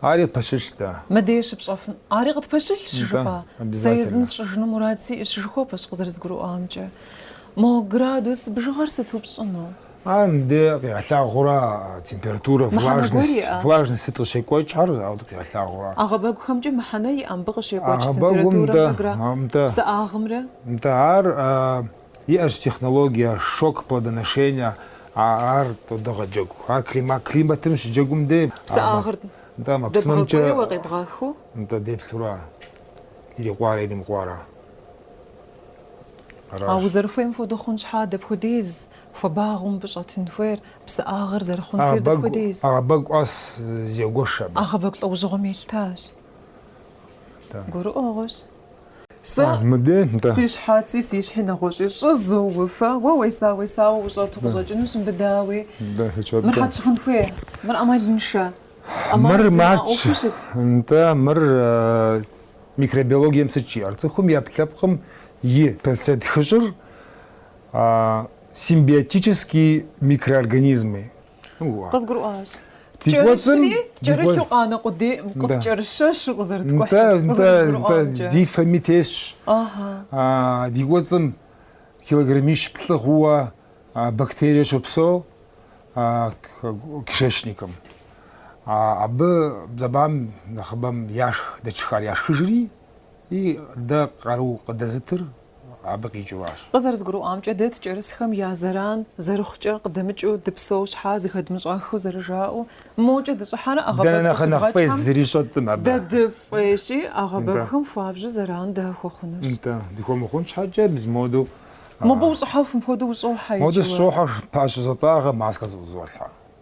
Ари пэщылъщ, да. Мыдеж щыпщӏэфын. Ари къытпэщылъщ, жыпӏа. Сэ езым сщӏыжыну мурад сиӏэщ, жыхуэпӏэщ, къызэрызгурыӏуамкӏэ. Мо градус бжыгъэр сыту пщӏыну? А, мыбы къигъэлъагъуэра температурэ, влажность сыт къыщекӏуэкӏхэр, ауэ къигъэлъагъуэра. Ӏэгъэбэгухэмкӏэ мыхьэнэ иӏэ мыбы къыщекӏуэкӏ температурэмрэ градусымрэ, псыӏагъымрэ? Нтӏэ, ар. Иӏэщ технологие шок плодоношения, ар тыдогъэджэгу. Ар климатым щыджэгум дей. Псыӏагъыр дэбгъэкӏуейуэ къебгъэхыу. Нтӏэ деплъура, ирикъуара, иримыкъуара. А узэрыхуейм хуэдэу хъун щхьа, дапхуэдиз хуабагъыу мыбы щӏэтын хуейр, псыӏагъыр зэрыхъун хуейр дапхуэдиз? Ӏэгъэбэгу къэс зегуэш абы. Ӏэгъэбэгу лӏэужьыгъуэм елъытащ. Гурыӏуэгъуэщ. Сэ си щхьэци, си щхьи нэгъуэщӏи щӏызоуфэ, уэ уеса-уесауэ ущӏэту къыщӏэкӏынущ мыбдеи. Мыр хьэт щыхъун хуей, мыр ӏэмалыншэ. Мыр матч, нтӏэ, мыр микробиологием сыт жиӏэр? Цӏыхум и ӏэпкълъэпкъым и процент тхущӏыр симбиотические микроорганизмы, Къызгурыӏуащ. Ткӏэрысри, кӏэрысу къанэ къудейӏым, къыткӏэрыщэщу къызэрыткӏухьыр, къызэрызгурыӏуамкӏэ. Ди фэми тесщ. Ди кӏуэцӏым килограммищ плӏы хъууэ бактерие щопсэу кишечникым. Абы зэбам нэхъыбэм яшх, дэ тшхар яшхыжри, и дэ къару къыдэзытыр абы къикӏыу аращ. Къызэрызгурыӏуамкӏэ, дэ ткӏэрысхэм я зэран зэрыхъукӏэ къыдэмыкӏыу дыпсэу щхьа зыхэдмыщӏэххэу зэрыжаӏэу, мокӏэ дыщӏыхьэрэ Дэнэ ӏэгъэбэгу нэхъ нэхъ фӏей къыщыбгъэкӏхэм зыри щӏэткъым абы. дэ дыфӏейщи, ӏэгъэбэгухэм хуабжьу зэран дыхуэхъунущ. Нтӏэ, дыхуэмыхъун щхьэкӏэ мис модэу. Мобы ущӏыхьэфым хуэдэу ущӏохьэ Модэу икӏыуэ. сыщӏохьэ, пащэ зотӏагъэ, маскэ зыӏузолъхьэ.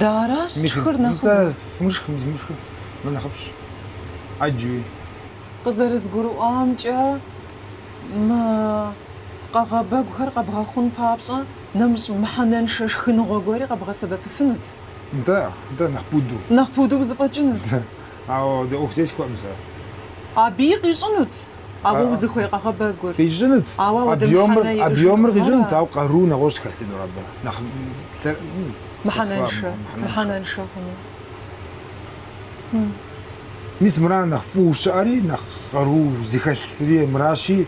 Дэ аращ тшхыр нэхъыбэу. Фымышх, мис мышхыр мыр нэхъыфӏщ. ӏэджи. Къызэрызгурыӏуамкӏэ, мы къэгъэбэгухэр къэбгъэхъун папщӏэ, нэмыщӏ мыхьэнэншэ шхыныгъуэ гуэри къэбгъэсэбэпыфынут. Да, да, нэхъ пуду. Нэхъ пуду узыфӏэкӏынут. Ауэдэ ӏуэху зесхуэкъым сэ. Абыи къищӏынут а уэ узыхуей къэгъэбэгур. Къищӏынут, объемыр, объемыр къищӏынут, ауэ къару нэгъуэщӏ хэлъынур абы, нэхъ мыхьэнэншэ, мыхьэнэншэ хъуну. Мис мыра нэхъ фӏыуэ щыӏэри, нэхъ къару зыхэлъри мыращи,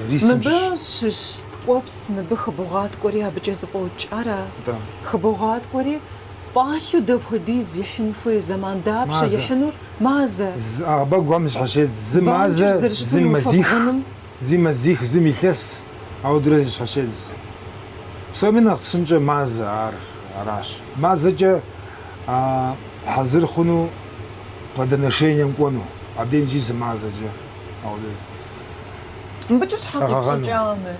рисым щыщ. Мыбы щыщ ткӏуэпс, мыбы хыбогъаткӏуэри абыкӏэ зэфӏокӏ, ара? Атӏэ. Хыбогъаткӏуэри. Пӏалъэу дапхуэдиз ихьын хуей зэман дапщэ Мазэ. ихьынур? Мазэ. Ӏэгъэбэгухэм зэщхьэщедз зы Бамкӏэ мазэ, зэрыщытым зы уи мазих, фэбгъуным. зи мазих, зым илъэс, ауэдурэ зэщхьэщедз. Псоми нэхъ псынкӏэ мазэ ар аращ. Мазэкӏэ а, хьэзыр хъуну плодоношением кӏуэну, абдеж иджи зы мазэкӏэ ауэдэ. Мыбыкӏэ щхьэ къипщӏыкӏа мыр?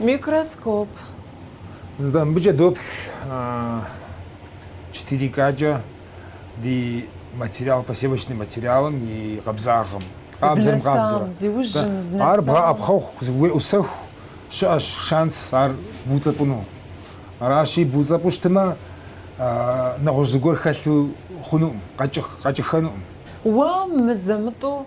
Микроскоп. Нтӏэ, мыбыкӏэ доплъ четыре К-кӏэ ди материал, посевочный материалым и къабзагъым. Къабзэрым къабзэрэ. Зиужьым здынэсам. Ар бгъэӏэпхъэху, уеӏусэху щыӏэщ шанс ар буцӏэпӏыну. Аращи, буцӏэпӏу щытымэ, нэгъуэщӏ зыгуэр хэлъу хъунукъым, къэкӏыххэнукъым. Уэ мызэ-мытӏэу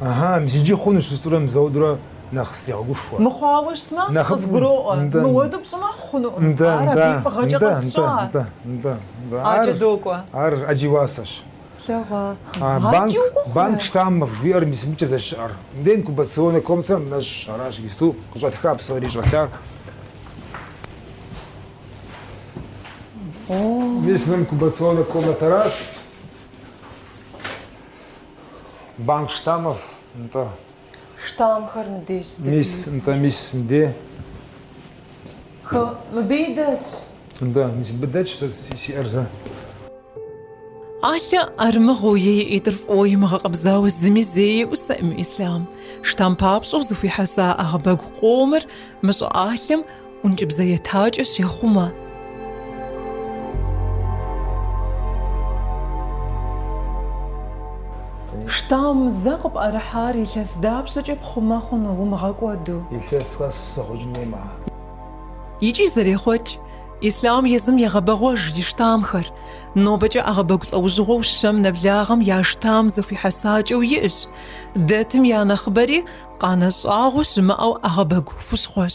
Ыхьы, мис иджы хъунущ жысӏэурэ мис ауэдурэ нэхъ сытрегъэгушхуэ. Мыхъуауэ щытмэ, Нэхъыфӏым. къызгуроӏуэ. Нтӏэ. Мыуэду пщӏымэ, хъунукъым. Нтӏэ, Ар нтӏэ, абы и фӏыгъэкӏэ нтӏэ, нтӏэ, къэсщӏа. нтӏэ, нтӏэ, нтӏэ. Ар- Адэкӏэ докӏуэ. Ар ӏэджи уасэщ. Лъэгъуа. А, Адэкӏэ банк, укӏуэ хъурэ? банк штаммов жиӏэр мис мыбыкӏэ здэщыӏэр. Мыдэ инкубационнэ комнатэ нэщӏщ, аращ иджыпсту къыщӏэтха псори щӏэлъар. Мис мы инкубационнэ комнатэращ. Банк штамов, нтӏэ. Штамхэр мыбдеж зы. Мис, нтӏэ, мис, мыдэ. Хы, мыбдей дэтщ. Нтӏэ, мис мыбы дэтщ сэ сиӏэр зэ. Ӏэлъэ ӏэрымыгъыу е и ӏитӏыр фӏыуэ имыгъэкъэбзауэ зыми зеиӏусэӏым Ислъам. Штам папщӏэу зэхуихьэса ӏэгъэбэгу къомыр мы щӏыӏалъэм ӏункӏыбзэ етакӏэ щехъумэ. Штам зэ къыпӏэрыхьар илъэс дапщэкӏэ пхъумэ хъуну умыгъэкӏуэду? Илъэс къэс зэхъуэкӏын хуей мыхэр. Икӏи зэрехъуэкӏ, Ислъам езым егъэбэгъуэж и штамхэр, нобэкӏэ ӏэгъэбэгу лӏэужьыгъуэу щэм нэблагъэм я штам зэхуихьэсакӏэу иӏэщ, дэтым я нэхъыбэри къанэ щӏагъуэ щымыӏэу ӏэгъэбэгу хущхъуэщ.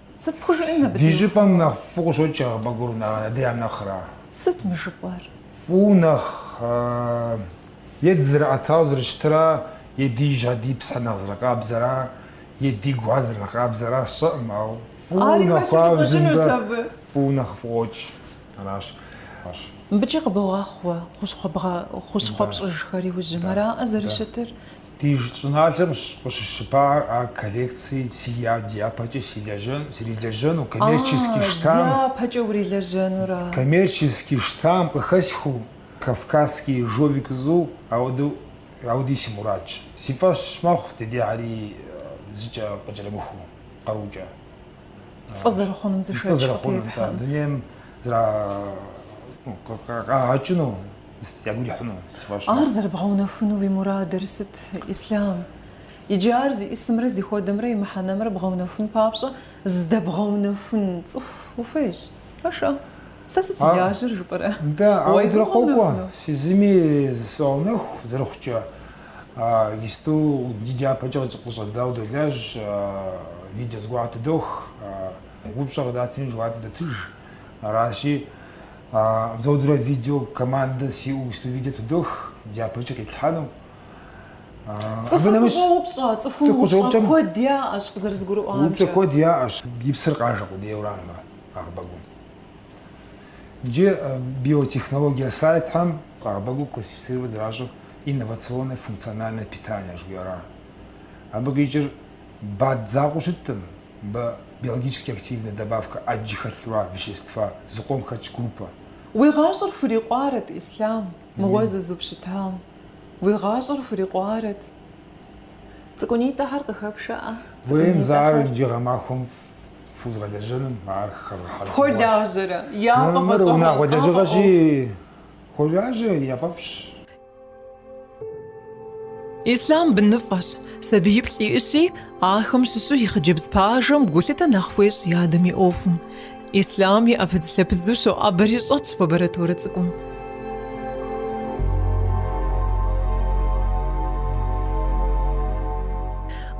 Сыт пхужыӏэн мыбы Ди щӏыпӏэм нэхъ фӏыу къыщокӏ ӏэгъэбэгур адрейм нэхъра? Сыт мы жыпӏэр? Фӏыу нэхъ е дызэрыӏэтауэ зэрыщытыра, е ди жьы ди псыр нэхъ зэрыкъабзэра, е ди гур зэрынэхъ къабзэра сщӏэӏым, ау фӏыу нэхъ ау зымбэ фӏыу нэхъ фӏыу къокӏ аращ. Мыбыкӏи къыбогъэхъу уэ хущхъуэ пщӏыжхэр иужьым, араӏэ зэрыщытыр? Ди щӏыналъэм къыщыщыпар а коллекцие сиӏэ дяпэкӏэ силэжьэн, срилэжьэну, коммерчески штам. А, дяпэкӏэ урилэжьэнура? Коммерчески штам къыхэсхыу, Кавказский ежовик зыу, ауэдэу, ауэдий си мурадщ. Си фӏэщ мэхъу ди дейхэри зыкӏэ къыкӏэрымыхуу, къарукӏэ. Фӏы зэрыхъунум зы шэч къытетхьэм. Фӏы зэрыхъунум, дунейм зра, ну, къагъэкӏыну. Ягу ирихьыну сфӏощӏ. Ар зэрыбгъэунэхуну уи мурадыр сыт, Ислъам? Иджы ар зиӏисымрэ зыхуэдэмрэ и мыхьэнэмрэ бгъэунэхун папщӏэ здэбгъэунэхун цӏыху ухуейщ. Пэшэ, сэ сыт си лажьэр жыпӏэрэ? Нтӏэ, ауэ дрыкъокӏуэ, сэ езыми согъэунэху зэрыхъукӏэ. Исту ди дяпэкӏэ къыщӏэдзауэ долажь, видео зыгуэр тыдох, упщӏэ къыдатми жэуап идотыж. Аращи, а Дзодрэ видео командэ сиӏэу исту видео тыдох дяпэкӏэ къитлъхьэну. Цӏыхур къыщӏоупщӏэ, цӏыхум упщӏэ куэд яӏэщ къызэрызгурыӏуамкӏэ. Упщӏэ куэд яӏэщ. И псыр къажэ къудейуэрам мы ӏэгъэбэгум. Иджы биотехнология сайтхэм ӏэгъэбэгу классифицировать зэращӏыр инновационное функциональное питание жыхуиӏэращ. Абы къикӏыр БАД закъуэу щыткъым, бэ, биологически активная добавка ӏэджи хэлъу а вещества, зыкъом хэтщ группэ. Уи гъащӏэр хурикъуарэт, Ислъам, мыуэ зызупщытам, уи гъащӏэр хурикъуарэт. Цӏыкӏунитӏэхэр къыхэпшэӏэ, Хуейм зэ ар цӏыкӏунитӏэхэр. иджы гъэмахуэм фӏыу згъэлэжьэным, ар хэзгъэхьэрысыгъуащ. Хуолажьэрэ, япэ Мыр фӏэщӏэхуэу, унагъуэ къафӏэӏуэху. лэжьыгъэщи, хуолажьэ, яфӏэфӏщ. Ислъам быныфӏэщ, сабииплӏ иӏэщи, ахэм щыщу и хъыджэбз пажэм гулъытэ нэхъ хуещӏ и адэм и ӏуэхум. Ислъам и ӏэпыдзлъэпыдзу щоӏэбэри щӏэтщ лабораторэ цӏыкӏум.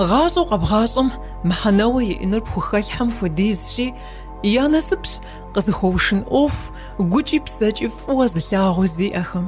Гъащӏэу къэбгъащӏэм мыхьэнэуэ иӏэнур пхухэлъхьэм хуэдизщи, я насыпщ къызыхуэушын ӏуэху гукӏи псэкӏи фӏыуэ зылъагъу зиӏэхэм.